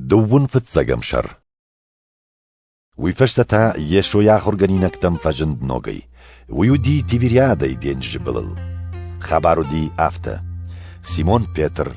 Дыууын фыццӕгӕм сӕр Уый фӕстӕ та Йесойы ахуыргӕнинӕгтӕм фӕзынд ногӕй. Уый уыди Тивериадӕйы денджызы былыл. Хабар уыди афтӕ. Симон Петр,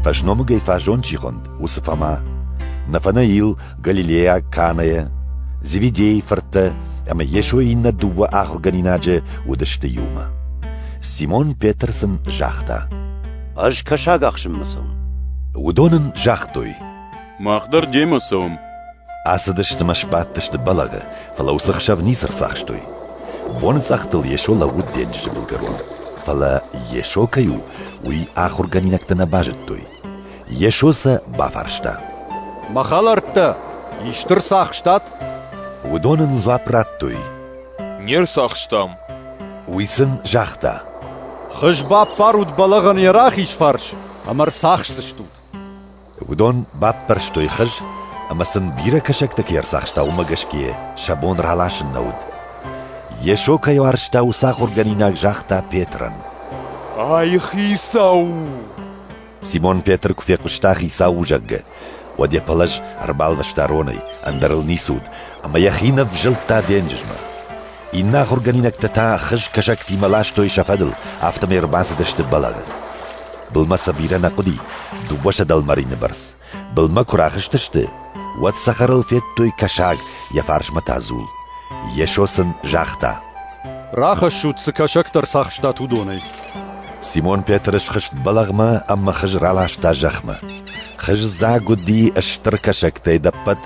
фӕсномыгӕй фазон чи хуынд, уыцы Фома, Нафанаил, Галилейаг Канайӕ, Зеведейы фырттӕ ӕмӕ Йесойы иннӕ дыууӕ ахуыргӕнинаджы уыдысты иумӕ. Симон Петр сын загъта: Ӕз кӕсаг ахсынмӕ цӕуын. Уыдон ын загътой. Мах дӕр демӕ цӕуӕм. Ацыдысты мӕ сбадтысты бӕлӕгы, фӕлӕ уыцы хсӕв ницы рцахстой. Боныцъӕхтыл Йесо лӕууыд денджызы былгӕрон. Фӕлӕ Йесо кӕй у, уый ахуыргӕнинӕгтӕ нӕ базыдтой. Йесо сӕ бафарста. Мӕ хӕлӕрттӕ, исты рцахстат? Уыдон ын дзуапп радтой. Не рцахстам. Уый сын загъта. Хыз баппарут бӕлӕгъӕн йӕ рахиз фарс ӕмӕ рцахсдзыстут. Уыдон баппӕрстой хыз ӕмӕ сын бирӕ кӕсӕгтӕ кӕй ӕрцахста, уымӕ гӕсгӕ сӕ бон раласын нӕ уыд. Йесо кӕй уарзта, уыцы ахуыргӕнинаг загъта Петрӕн. Ай хицау у! Симон Петр куы фехъуыста Хицау у, зӕгъгӕ, уӕд йӕ пӕлӕз ӕрбалвӕста ронӕй, ӕндӕр ыл ницы уыд, ӕмӕ йӕхи ӕвзылдта денджызмӕ. Иннӕ ахуыргӕнинӕгтӕ та хызкӕсӕгтимӕ ластой сӕ фӕдыл, афтӕмӕй ӕрбацыдысты бӕлӕгъӕн. Былмӕ сӕ бирӕ нӕ хъуыди, дыууӕсӕдӕ лмарины бӕрц. Былмӕ куы рахызтысты, уӕд цӕхӕрыл федтой кӕсаг, йӕ фарсмӕ та дзул. Йесо сын загъта: «Рахӕссут, цы кӕсӕгтӕ рцахстат, уыдонӕй». Симон Петры схызт бӕлӕгъмӕ ӕмӕ хыз раласта зӕхмӕ. Хыз дзаг уыди стыр кӕсӕгтӕй дӕппӕт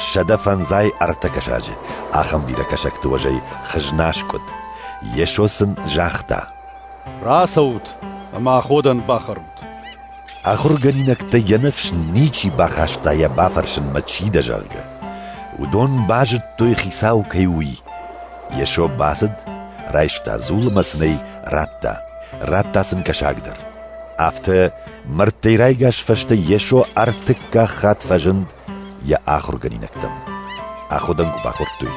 сӕдӕ фӕндзай ӕртӕ кӕсаджы. Ахӕм бирӕ кӕсӕгты уӕзӕй хыз наскъуыд. Йесо сын загъта: «Рацӕут ӕмӕ аходӕн бахӕрут». Ахуыргӕнинӕгтӕ йӕ ныфс ничи бахаста йӕ бафӕрсынмӕ чи дӕ, зӕгъгӕ. Уыдон базыдтой, хицау кӕй у, уый. Йесо бацыд, райста дзул ӕмӕ сын ӕй радта. Радта сын кӕсагдӕр. Афтӕ мӕрдтӕй райгас фӕстӕ Йесо ӕртыккаг хатт фӕзынд йӕ ахуыргӕнинӕгтӕм. Аходӕн куы бакодтой,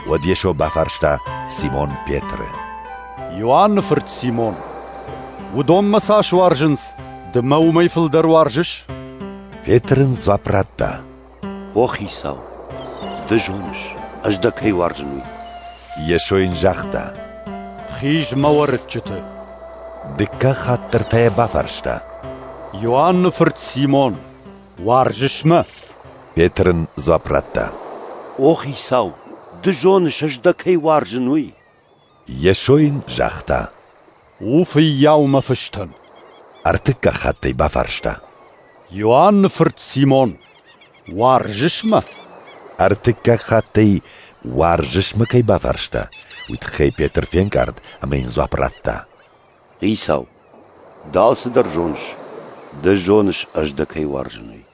уӕд Йесо бафарста Симон Петры. Иоанны фырт Симон, уыдонмӕ цас уарзынц, ды мӕ уымӕй фылдӕр уарзыс? Петр ын дзуапп радта. О, Хицау, ды зоныс, ӕз дӕ кӕй уарзын, уый. Йесо йын загъта. Хиз мӕ уӕрыччыты. Дыккаг хатт дӕр та йӕ бафарста. Иоанны фырт Симон, Уарзыс мӕ? Петр ын дзуапп радта. О, хицау, ды зоныс, ӕз дӕ кӕй уарзын, уый. Йесо йын загъта. У фыййау мӕ фыстӕн. Ӕртыккаг хатт ӕй бафарста. Иоанны фырт Симон, уарзыс мӕ? Ӕртыккаг хатт ӕй уарзыс мӕ кӕй бафарста, уый тыххӕй Петр фенкъард ӕмӕ йын дзуапп радта. Хицау, дал цыдӕр зоныс, ды зоныс ӕз дӕ кӕй уарзынӕй.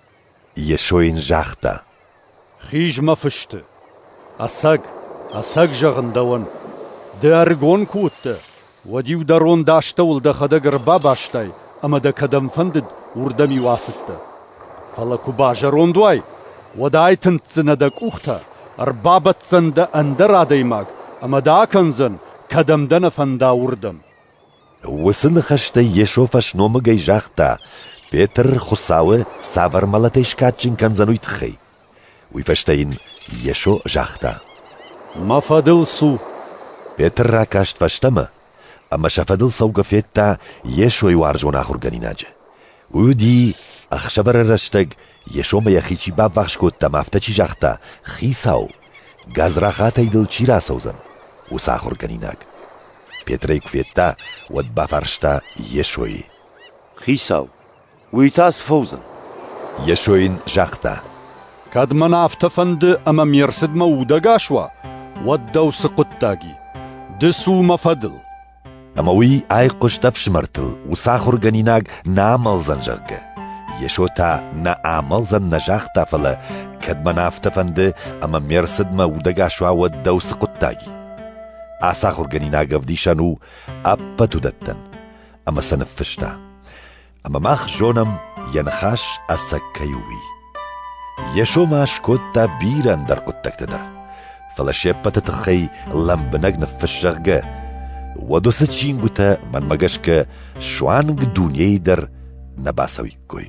Йесо йын загъта: Хиз мӕ фысты. Ӕцӕг, ӕцӕг зӕгъын дӕуӕн, ды ӕрыгон куы уыдтӕ, уӕд-иу дӕ ронд астӕуыл дӕхӕдӕг ӕрбабастай ӕмӕ дӕ кӕдӕм фӕндыд, уырдӕм-иу ацыдтӕ. Фӕлӕ куы базӕронд уай, уӕд айтындздзынӕ дӕ къухтӕ, ӕрбабӕтдзӕн дӕ ӕндӕр адӕймаг ӕмӕ дӕ акӕндзӕн, кӕдӕм дӕ нӕ фӕнда, уырдӕм. Уыцы ныхӕстӕй Йесо фӕсномыгӕй загъта, Петр Хуыцауы цавӕр мӕлӕтӕй скадджын кӕндзӕн уый тыххӕй. Уый фӕстӕ йын Йесо загъта. Мӕ фӕдыл цу. Петр ракаст фӕстӕмӕ ӕмӕ сӕ фӕдыл цӕугӕ федта Йесойы уарзон ахуыргӕнинаджы. Уый уыди, ӕхсӕвӕры рӕстӕг Йесомӕ йӕхи чи баввахс кодта мӕ афтӕ чи загъта: Хицау, Гадзрахатӕй дыл чи рацӕудзӕн, уыцы ахуыргӕнинаг? Петрӕй куы федта, уӕд бафарста Йесойы. Хицау, уый та цы фӕуыдзӕн? Йесо йын загъта. Кӕд мӕн афтӕ фӕнды ӕмӕ ме рцыдмӕ удӕгас уа, уӕд дӕу цы хъуыддаг и? Ды цу мӕ фӕдыл. Ӕмӕ уый айхъуыст ӕфсымӕртыл, уыцы ахуыргӕнинаг нӕ амӕлдзӕн, зӕгъгӕ. Йесо та нӕ амӕлдзӕн нӕ загъта, фӕлӕ кӕд мӕн афтӕ фӕнды, ӕмӕ ме рцыдмӕ удӕгас уа, уӕд дӕу цы хъуыддаг и? Ацы ахуыргӕнинаг ӕвдисӕн у ӕппӕт уыдӕттӕн, ӕмӕ сӕ ныффыста. ӕмӕ мах зонӕм, йӕ ныхас ӕцӕг кӕй у, уый. Йесо ма скодта бирӕ ӕндӕр хъуыддӕгтӕ дӕр, фӕлӕ се ппӕты тыххӕй лӕмбынӕг ныффысс, зӕгъгӕ, уӕд уыцы чингуытӕ, мӕнмӕ гӕсгӕ, суанг дунейы дӕр нӕ бацӕуиккой.